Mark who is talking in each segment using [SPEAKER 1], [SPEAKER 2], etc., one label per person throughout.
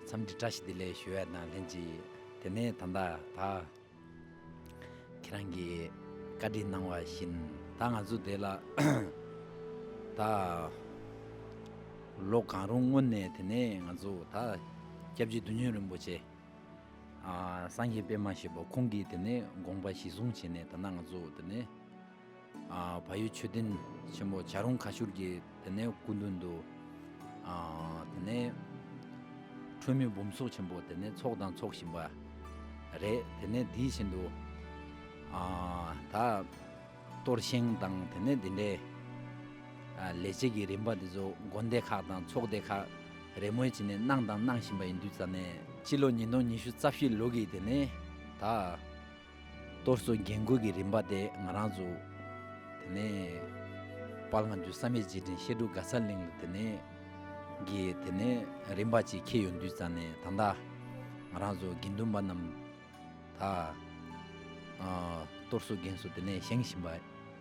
[SPEAKER 1] མཚམས་འདྲི་བཀྲ་ཤིས་བདེ་ལེགས་ཞུ་བ་དང་ལྷན་ཅིག་དེ་ནས་ད་ལྟ་ད། ཁྱེད་རང་གིས་བཀའ་དྲིན་གནང་བ་བཞིན་ད་ང་ཚོ་དེ་ལ། ད། ལོ་གང་རུང་སྔོན་ནས་དེ་ནས་ང་ཚོ་ད། སྐྱབས་རྗེ་བདུད་སྨྱོན་རིན་པོ་ཆེ། སངས་རྒྱས་པད་མ་ཞེས་པ་ཁོང་གིས་དེ་ནས་དགོངས་པ་གཞི་བཟུང་བྱས་ནས་ད་ནངས་ཚོ་དེ་ནས། བ་ཡུལ་མཆོད་རྟེན་ཆེན་པོ་བྱ་རུང་ཁ་ཤུར་གྱི་དེ་ནས་སྐུ་མདུན་དུ། དེ་ནས་ཁྲོས་མི་འབུམ་ཚོགས་ཆེན་པོ་དེ་ནས་ཚོགས་དང་ཚོགས་བཞིན་པ། རེད་དེ་ནས་དེའི་བཞིན་དུ། ད་གཏོར་བཞེངས་དང་དེ་ནས་དེ་འདྲའི། ལས་བྱེད་ཀྱི་རིམ་པ་དེ་ཚོ་དགོན་སྡེ་ཁག་དང་ཚོགས་སྡེ་ཁག་རེས་མོས་བྱེད་ནས་གནང་དང་གནང་བཞིན་པ་ཡིན་དུས་རྩ་ནས། སྤྱི་ལོ་ཉིས་སྟོང་ཉི་ཤུ་རྩ་བཞི་ལོ་གི་དེ་ནས་ད། གཏོར་བཟོ་རྒྱན་བཀོད་ཀྱི་རིམ་པ་དེ་ང་རང་བཙུགས། དེ་ནས། པར་ང་ཚོའི་བསམ་ཡས་རྗེས་དྲན་བཤད་སྒྲུབ་ག་ས་ལེན་ལ་དེ་ནས། གི་དེ་ནས་རིམ་པ་གཅིག་ཁེལ་ཡོང་དུས་ཙང་ནས་ད་ལྟ། ང་རང་བཟོ་དགེ་འདུན་པ་རྣམས། ད། གཏོར་བཟོ་རྒན་གསོ་དེ་ནས་བཞེངས་བཞིན་པ།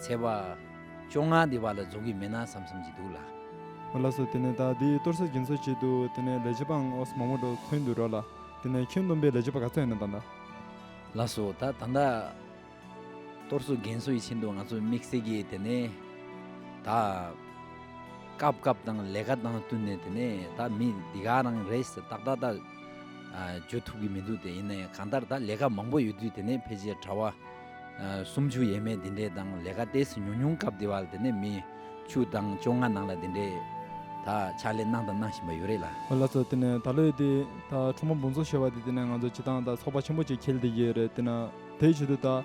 [SPEAKER 1] ཚེ་བ། བཅོ་ལྔ་འདི་བ་ལ་རྫོགས་ཀྱི་མེད་ན་བསམ་བསམ་གྱི་འདུག་ལ། མོ་ལགས་སུ་དེ་
[SPEAKER 2] ནས་ད་འདི་གཏོར་ས་སྦྱིན་སོགས་བྱེད་དུ་དེ་ནས་ལས་བྱེད་པའང་ཨོས་མང་པོ་འགྲོ་ཚོད་འདུག་རོགས་ལ། དེ་ནས་ཁྱོད་སྡོམ་པའི་ལས་བྱེད་པ་ག་ཚོད་ཡིན་ན་ད་ད། ལགས་སོ་
[SPEAKER 1] ད་ད་ད། གཏོར་སོ་རྒན་སོ་ཡི་ཆེད་དུ་ང་ཚོ་དམིགས་བསལ་གྱི་དེ་ནས་ད། སྐབས་སྐབས་དང་ལས་ཀ་དང་བསྟུན་ནས་དེ་ནས་ད་མི་འདི་ག་རང་རེད་ཟེར་ཏག་ཏག་ད། བརྗོད་ཐུབ་ཀྱི་མི་འདུག་དེ་ཡིན་ན་གང་ལྟར་ད་ལས་ཀ་མང་པོ་ཡོད་དུས་དེ་ནས་ཕལ་ཆེར་གྲྭ་བ། སུམ་ཅུ་ཡས་མས་འདི་འདྲའི་དང་ལས་ཀ་ལྟས་སུ་ཉུང་ཉུང་སྐབས་འདི་བ་ལ་དེ་ནས་མི། བཅུ་དང་བཅོ་ལྔ་ནང་ལ་འདི་འདྲའི། ད་ཕྱག་ལས་གནང་དང་གནང་བཞིན་པ་ཡོད་རེད་ལ། ལ་ཚོ་དེ་ནས་ད་
[SPEAKER 2] ལོའི་དེ། ད་ཁྲོ་མོ་འབུམ་ཚོ་ཞེས་བ་དེ་དེ་ནས་ང་ཚོ་བྱེ་ཐང་དང་ཚོགས་པ་ཆེན་པོ་གཅིག་འཁེལ་དེ་ཡོད་རེད་དེ་ན་དེའི་ཆེད་དུ་ད།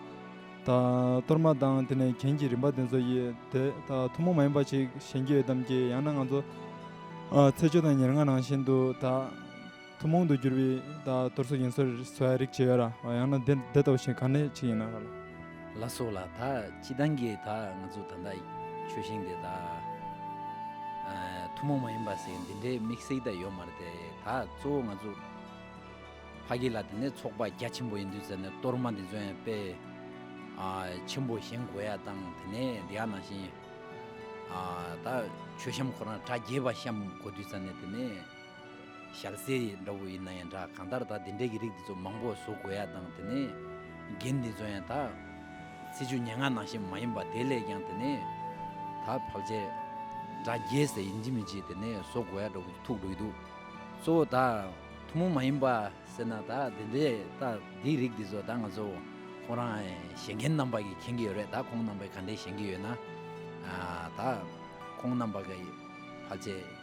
[SPEAKER 2] ད་གཏོར་མ་དང་དེ་ནས་གྱེན་གྱི་རིམ་པ་དེ་ཚོ་ཡི་དེ་ད་ཐུན་མོང་མ་ཡིན་པ་ཞིག་གཞན་གྱི་ཡོད་དམ་ཅི་ཡང་ན་ང་ཚོ། ཚེས་བཅུ་དང་ཉེར་ལྔ་ནང་བཞིན་དུ་ད། ཐུན་མོང་དུ་གྱུར་པའི་དང་དུར་སོགས་ཡིན་ཟེར་བའི་རིགས་ཇི་ཡོད་ར་བ་ཡང་ན་འདི་ལྟ་བུ་ཞིག་ག་ནས་ཕྱི་ཡིན་ན་ར་ལ། ལ་སོགས་ལ་
[SPEAKER 1] དག་ཅི་ལྡང་གི་དག་ང་ཚོ་ད་ལྟ་ཆོས་ཤིང་དེ་དག་ཐུན་མོང་མ་ཡིན་པ་ཟེར་འདི་འདྲའི་དམིགས་བསལ་དག་ཡོད་མ་རེད་དེ་དག་གཙོ་བོ་ང་ཚོ་ཕ་གི་ལ་དེ་ནས་ཚོགས་པ་རྒྱ་ཆེན་པོ་ཡིན་དུས་ཟེར་ནས་གཏོར་མ་འདི་ཚོ་ཡང་དཔེ་ཆེན་པོ་བཞེངས་དགོས་ཡ་དང་དེ་ནས་འདི་ཡང་ནང་བཞིན་དག་ཆོས་བཤམས་ཁོ་རང་གྲ་རྒྱས་པ་བཤམས་དགོས་དུས་ཟེར་ནས་དེ་ནས། ཞག་གསེར་ཡིག་འདྲ་བོ་ཡིན་ན་ཡང་འདྲ་གང་ལྟར་ད་འདི་འདྲའི་གི་རིགས་འདི་ཚོ་མང་པོ་བཟོ་དགོས་ཡག་དང་དེ་ནས་རྒན་འདི་ཚོ་ཡང་ད། སྲིད་ཇུས་སྙན་ངག་ནང་བཞིན་མ་ཡིན་པ་དེ་ལས་ཀྱང་དེ་ནས། ད་བབ་ཆས། འདྲ་རྒྱས་ཟེར་ཡིན་གཅིག་མིན་གཅིག་དེ་ནས་བཟོ་དགོས་ཡག་འདྲ་བོ་ཐུག་འགྲོ་གི་འདུག་གཙོ་བོ་ད། ཐུང་མོང་མ་ཡིན་པ་ཟེར་ན་ད་འདི་འདྲའི་ད་འདིའི་རིགས་འདི་ཚོ་ད་ང་ཚོ་ཁོང་རང་གཞན་རྒན་རྣམ་པ་གིས་མཁྱེན་གི་ཡོད་རེད་ད་ཁོང་རྣམ་པས་ག་འདྲའི་ཞེན་གི་ཡོད་ན། ད། ཁོང་རྣམ་པ་གིས་བབ་ཆས།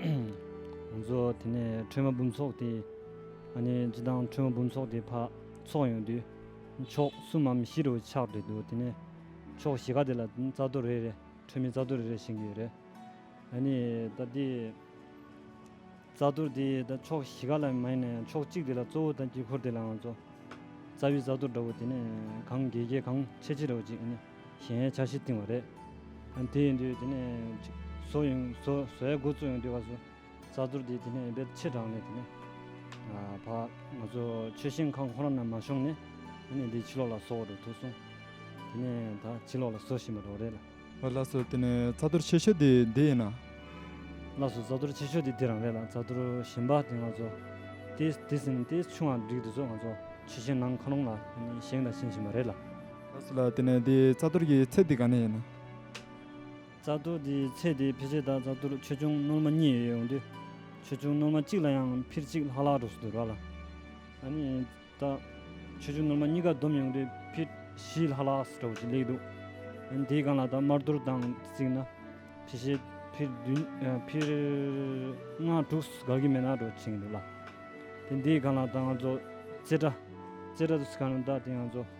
[SPEAKER 3] ང་ཚོ་དེ་ནས་ཁྲོས་མ་འབུམ་ཚོགས་དེ། ཨ་ནི་ཅི་དང་ཁྲོས་མ་འབུམ་ཚོགས་དེ་ཕ། ཚོགས་ཡོང་དུས། ཕྱོགས་གསུམ་མམ་བཞི་རུ་ཆགས་འདོད་འདུག་དེ་ནས། ཕྱོགས་བཞི་ག་དེ་ལ་རྩ་ཐོ་རེ་རེ་ཁྲོས་མི་རྩ་ཐོ་རེ་རེ་བཞེངས་ཀྱི་ཡོད་རེད། ཨ་ནི་ད་དེ། རྩ་ཐོ་དེ་ད་ཕྱོགས་བཞི་ག་ལ་མ་ཡིན་ནའང་ཕྱོགས་གཅིག་དེ་ལ་གཙོ་བོ་ད་དཀྱིལ་འཁོར་དེ་ལ་ང་ཚོ། རྩ་བའི་རྩ་ཐོ་འདྲ་བོ་དེ་ནས་གང་རྒྱས་རྒྱས་གང་ཆེ་ཆེ་རེ་བ་ཅིག་ཨ་ནི། གཞན་ཡང་ཆ་བཞི་བཏིང་བ་རེད། དེ་ཡིན་དུས་དེ་ནས་བཟོ་ཡོང་བཟོའི་འགོ་བཙུགས་ཡོང་དུས་བ་སོ་རྩ་ཚོར་དེ་དེ་ནས་ཡིན་པས་ཕྱིར་དྲངས་ནས་དེ་ནས་བ་ང་ཚོ་ཆོས་ཞིང་ཁང་ཁོ་ར་ན་མ་ཤོང་ནས་དེ་ནས་དེ་ཕྱི་ལོག་ལ་བཟོ་བ་འགྲོ་ཐུག་གསུངས། དེ་ནས་ད་ཕྱི་ལོག་ལ་བཟོ་བཞིན་པ་རོགས་རེད་ལ། བླ་ཟུར་དེ་ནས་
[SPEAKER 2] རྩ་ལྟོར་ཆེ་ཤོས་དེ་འདི་ཡིན་ན། བླ་ཟུར་
[SPEAKER 3] རྩ་ལྟོར་ཆེ་ཤོས་དེ་འདི་རང་རེད་ལ་རྩ་ལྟོར་གཞན་པ་དེ་ང་ཚོ་དེ་ཟིན་དེ་ཆུང་བ་འགྲིག་འདུག་ཟོ་ང་ཚོ་ཆོས་ཞིང་ནང་ཁང་རོང་ལ་བཞེངས་དང་བཞེངས་བཞིན་པ་རེད་ལ།
[SPEAKER 2] ལ་དེ་ནས་དེའི་རྩ་གཏོར་གྱི་ཚད་དེ་ག་ནས་ཡིན། རྩ་
[SPEAKER 3] གཏོར་དེའི་ཚད་དེ་འཕེལ་ཆེ་དང་རྩ་གཏོར་ཆེ་ཆུང་སྣོལ་མ་གཉིས་ཡོད་ཡོང་དུས། ཆེ་ཆུང་སྣོལ་མ་གཅིག་ལ་ཡང་འཕིར་གཅིག་ལྷག་ལྷག་འགྲོ་སྲིད་འདུག་ར་ལ་ཨ་ནི་ད། ཆེ་ཆུང་སྣོལ་མ་གཉིས་ཀ་བསྡོམས་ཡོང་དུས་འཕིར་བཞི་ལྷག་ལྷག་འགྲོ་བ་ཞིག་ལེགས་འདུག་ཨ་ནི་དེའི་སྒང་ལ་ད་དམར་གཏོར་དང་གཅིག་ན། ཕྱི་ཞེ་འཕིར་བདུན་འཕིར་ལྔ་དྲུག་ག་གི་མན་ན་འགྲོ་བྱེད་ཀྱི་འདུག་ལ། དེ་འདིའི་སྒང་ལ་ད་ང་ཚོ་རྩེ་གྲ། རྩེ་གྲ་དུ་སི་ཁ་ན་ད་དེ་ང་ཚོ།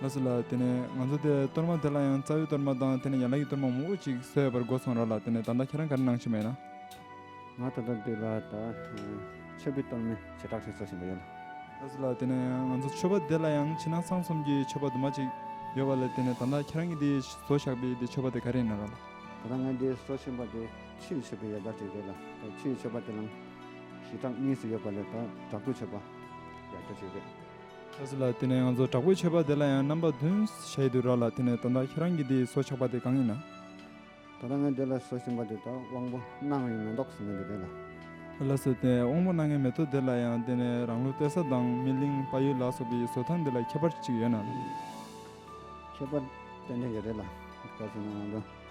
[SPEAKER 4] ལ་སོགས་ལ་
[SPEAKER 2] དེ་ནས་ང་ཚོ་དེ་གཏོར་མ་དེ་ལ་ཡང་རྩ་བའི་གཏོར་མ་དང་དེ་ནས་ཡན་ལག་གི་གཏོར་མ་མང་པོ་ཅིག་བཟོས་ཡོད་པར་སྒོ་སོང་རོགས་ལ་དེ་ནས་ད་ལྟ་ཁྱེད་རང་ག་རེ་གནང་བཞིན་པ་ཡིན་ན། ང་ད་ལྟ་
[SPEAKER 4] འདི་ལ་དང་མཆོད་པའི་གཏོར་མའི་བྱེ་བྲག་ཅིག་བཟོ་བཞིན་པ་ཡིན། ལ་སོགས་ལ་དེ་ནས་
[SPEAKER 2] ང་ཚོ་མཆོད་པ་དེ་ལ་ཡང་ཕྱི་ནང་གསང་གསུམ་གྱི་མཆོད་པ་དུ་མ་ཅིག་ཡོད་པ་ལ་དེ་ནས་ད་ལྟ་ཁྱེད་རང་གི་འདི་བཟོ་བཞག་པའི་འདི་མཆོད་པ་དེ་ག་རེ་ཡིན་ན་རོགས་ལ། ད་ལྟ་ང་འདི་
[SPEAKER 4] བཟོ་བཞིན་པ་དེ་ཕྱི་ཡི་མཆོད་པའི་ཡལ་ག་ཅིག་རེད་ལ་དེ་ཕྱི་ཡི་མཆོད་པ་དེ་ལའང་བྱེ་བྲག་གཉིས་སུ་ཡོད་པ་ལས་དང་དྲག་པོའི་མཆོད་པ་ཡལ་ག་ཅིག་རེད། ཁྱེད་སུ་ལ་
[SPEAKER 2] དེ་ནས་ང་ཚོ་དྲག་པོའི་ཆད་པ་དེ་ལ་ཡང་རྣམ་པ་བདུན་བྱས་ཡོད་དུ་ར་ལ་དེ་ནས་ད་ལྟ་ཁྱེད་རང་གིས་དེའི་སོ་ཆགས་པ་དེ་གང་ཡིན་ན། ད་ལྟ་ངས་
[SPEAKER 4] དེ་ལ་སོ་བྱིན་པ་དེ་དག་དབང་པོ་སྣ་ལྔའི་མེ་ཏོག་ཟེར་ནས་འདོད་པས་ལ། ལ་སོ་དེ་
[SPEAKER 2] དབང་པོ་སྣ་ལྔའི་མེ་ཏོག་དེ་ལ་ཡང་དེ་ནས་རང་ལུས་གཏད་ས་དང་སྨིན་གླིང་དཔའ་ཡུལ་ལ་སོགས་པའི་སོ་ཐང་དེ་ལ་ཁྱད་པར་ཅིག་ཡོད་ན།
[SPEAKER 4] ཁྱད་པར་ཏན་ཏན་གྱི་རེད་ལ། གལ་སྲིད་ན་ང་ཚོ།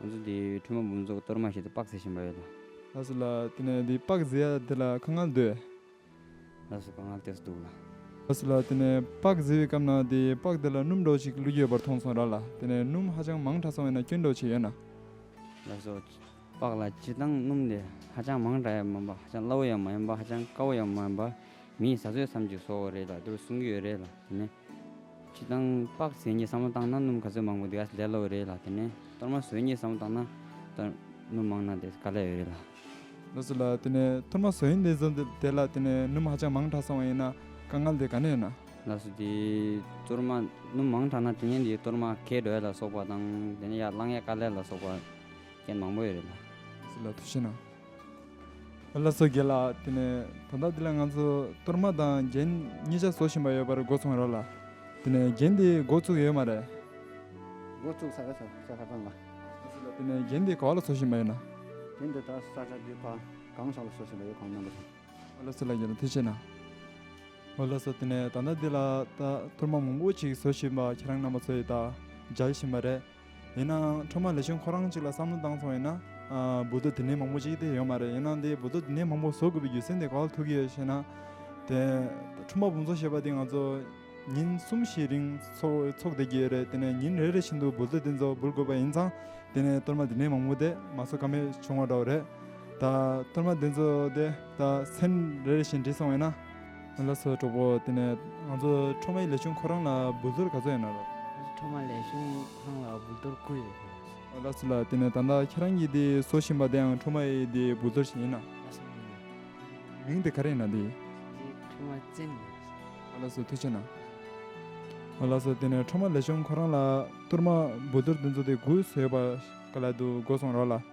[SPEAKER 2] ང་ཚོ་འདི་
[SPEAKER 5] འཕྲུལ་མ་འབུམ་ཚོགས་གཏོར་མ་ཞིག་ཏུ་དཔག་ཟེར་བཞིན་པ་ཡོད། ལགས་སོ་ལགས། དེ་
[SPEAKER 2] ནས་འདི་དཔག་ཟེར་ཡ་དེ་ལ་ཁ་སྔགས་ཟློས། ལགས་
[SPEAKER 5] སོ་ཁ་སྔགས་ཟློས་སུ་འདུག་ལ། ལགས་སོ་ལགས་དེ་ནས་
[SPEAKER 2] དཔག་ཟེར་བའི་སྐབས་ན་དེ་དཔག་དེ་ལ་སྣུམ་འདྲ་བོ་ཞིག་བླུགས་ཡོད་པར་མཐོང་སོང་ར་ལ་དེ་ནས་སྣུམ་ཧ་ཅང་མང་དྲགས་སོང་བས་ན་སྐྱོན་འདོགས་བྱས་ཡོད་ན། ལགས་སོ།
[SPEAKER 5] དཔག་ལ་སྤྱིར་བཏང་སྣུམ་དེ་ཧ་ཅང་མང་དྲགས་ཡང་མིན་པ་ཧ་ཅང་སླ་བོ་ཡང་མ་ཡིན་པ་ཧ་ཅང་དཀའ་བོ་ཡང་མ་ཡིན་པ། མིའི་བཟའ་ཟོས་སམ་ཅིག་བཟོ་བ་རེད་ལ་དེ་བས་གསུང་གི་ཡོད་རེད་ལ་དེ་ནས། ཁྱི་དང་ལྤགས་བཟས་ཉེས་བསམ་བློ་བཏང་ན་སྣུམ་ག་ཚོད་མང་པོ་འདི་ག་ལས་སླ་བོ་རེད་ལ་དེ་ནས་གཏོར་མ་ཟོས་ཉེས་བསམ་བློ་བཏང་ན་སྣུམ་མང་ན་དེ་ག་ལས་འོས་རེད་ལ། ལོ་སུ་ལ་
[SPEAKER 2] དེ་ནས་ཐུར་མ་ཟོས་ཉེས་བསམ་བློ་དེ་ལ་དེ་ནས་སྣུམ་ཧ་ཅང་མང་དྲགས་སོང་བ་ཡིན་ན་དཀའ་ངལ་དེ་ག་ནས་ན། ལ་སུ་དེ་གཏོར་
[SPEAKER 5] མ་སྣུམ་མང་དྲགས་ན་དེ་ནས་དེ་གཏོར་མ་གས་འགྲོ་ཡ་ལ་སོགས་པ་དང་དེ་ནས་ཡར་བླངས་ཡ་ག་ལས་ལ་སོགས་པ་རྐྱེན་མང་པོ་ཡོད་རེད་ལ། སུ་ལ་དུ་ཤེས་
[SPEAKER 2] ན། བླ་བཟོ་དགེ་ལགས་དེ་ནས་དོ་བདག་འདི་ལ་ང་ཚོ་གཏོར་མ་དང་རྒྱན་གཉིས་ཆ་བཟོ་བཞིན་པ་ཡོད་པར་འགོ་ཚུགས་ཡོད་ལ། དེ་ནས་རྒྱན་དེ་འགོ་བཙུགས་ཡོད་མ་རེད། འགོ་
[SPEAKER 4] བཙུགས་ས་ག་ས་ས་ཁ་པང་ལ། དེ་ནས་
[SPEAKER 2] རྒྱན་དེ་ག་བ་ལ་བཟོ་བཞིན་པ་ཡོད་ན། རྒྱན་དེ་དག་
[SPEAKER 4] ས་ཁ་དུས་ཕ་གང་ས་ལ་བཟོ་བཞིན་པ་ཡོད་གང་རྣམ་པ་དང། བླ་བཟོ་ལགས་ཀྱིས་ལ་
[SPEAKER 2] དེ་བྱས་ན། བླ་བཟོ་དེ་ནས་ད་ལྟ་འདི་ལ་ད་གཏོར་མ་མང་པོ་ཅིག་བཟོ་བཞིན་པ་ཁྱེད་རང་རྣམ་པ་ཚོ་ཡིས་ད་སྦྱར་བཞིན་པ་རེད། ཡིན་ནའང་ཁྲོམ་མ་ལེ་ཆོན་ཁོ་རང་གཅིག་ལ་བསམ་བློ་བཏང་སོང་ཡིན་ན། འབུ་རྡོ་དེ་འདྲའི་མང་པོ་ཅིག་དེ་ཡོད་མ་རེད་ཡིན་ནའང་དེ་འབུ་རྡོ་དེ་འདྲའི་མང་པོ་བཟོ་དགོས་པའི་རྒྱུ་མཚན་དེ་ག་ལ་ཐུག་གི་ཡོད་ཞེ་ན། དེ་ཁྲོམ་པ་འབུ་འཚོ་ཞེས་པ་དེ་ང་ཚོ་ཉིན་གསུམ་བཞིའི་རིང་འཚོ་བསྡད་ཀྱི་ཡོད་རེད་དེ་ནས་ཉིན་རེ་རེ་བཞིན་དུ་འབུ་རྡོ་དེ་ཚོ་འབུལ་དགོས་པ་ཡིན་ཙང་དེ་ནས་གཏོར་མ་དེ་འདྲའི་མང་པོ་དེ་མ་བཟོ་ཀ་མེད་བྱུང་བ་འདྲ་བོ་རེད། ད་གཏོར་མ་དེ་ཚོ་དེ་ད་ཚན་རེ་རེ་བཞིན་བྲིས་སོང་ཡིན་ན། ང་ལ་སོགས་གྲོགས་པོ་དེ་ནས་ང་ཚོ་ཁྲོ་མའི་ལས་ཆུང་ཁོ་རང་ལ་འབུལ་ཚོར་ག་ཚོད་ཡོད་ན་རོགས། ང་ཚོ་ཁྲོ་མ་ལས་ཆུང་
[SPEAKER 5] ཁོ་རང་ལ་འབུལ་ཚོར་དགུ་ཡོད་རེད། ལགས་སོ་ལགས་
[SPEAKER 2] དེ་ནས་ད་ལྟ་ཁྱེད་རང་གིས་དེ་བཟོ་བཞིན་པ་དེའང་ཁྲོ་མ་ཡི་དེའི་འབུལ་ཚོར་ཞིག་ཡིན་ན། ལགས་སོ་ཡིན། མིང་དེ་ག་རེ་ཡིན་ན་དེའི། དེ་ཁྲོ་མ་བཙན་
[SPEAKER 5] ཡིན་ལགས་སོ། ང་
[SPEAKER 2] ལགས་སོ་ཐུགས་ཆེ་གནང། ང་ལགས་སོ་དེ་ནས་ཁྲོ་མ་ལས་ཆུང་ཁོ་རང་ལ་གཏོར་མ་འབུལ་ཚོར་དེ་ཚོ་དེ་དགུ་བཟོས་ཡོད་པ་ག་ལ་འདུག་དགོས་སོང་རོགས་ལ།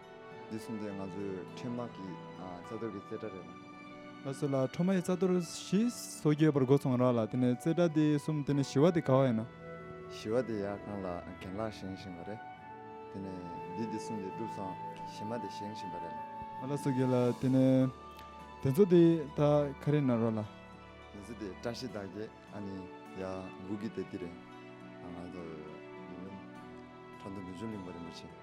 [SPEAKER 4] འདི་གསུམ་དེ་ང་ཚོའི་འཕྲལ་མར་གྱི་རྩ་གཏོར་གྱི་རྩེ་གྲ་རེད་ལ། ལ་སོགས་ལ་འཕྲལ་
[SPEAKER 2] མར་གྱི་རྩ་གཏོར་བཞི་སོ་བརྒྱད་པར་འགོ་ཚུགས་རང་ལ་དེ་ནས་རྩེ་གྲ་དེ་གསུམ་དེ་ནས་བཞི་བ་དེ་ག་བ་ཡིན་ན། བཞི་བ་དེ་ཡར་
[SPEAKER 4] ཁང་ལ་གན་ལག་བཞེངས་བཞིན་པ་རེད། དེ་ནས་འདི་དེ་གསུམ་དེ་གྲུབ་སོང་བཞི་མ་དེ་བཞེངས་བཞིན་པ་རེད་ལ། མ་ལ་སོགས་ཀྱི་ལ་དེ་
[SPEAKER 2] ནས་དེ་ཚོ་དེ་དག་ག་རེ་ན་རོགས་ལ། དེ་ཚོ་དེ་
[SPEAKER 4] བཀྲ་ཤིས་དག་གི་ཨ་ནི་ཡ་འགུག་གི་དེ་དེ་རེད། ང་ཚོ་འདི་འབྱུང། ཁྲ་འདུ་འདི་འབྱུང་གླིང་བ་རིན་པོ་ཆེ།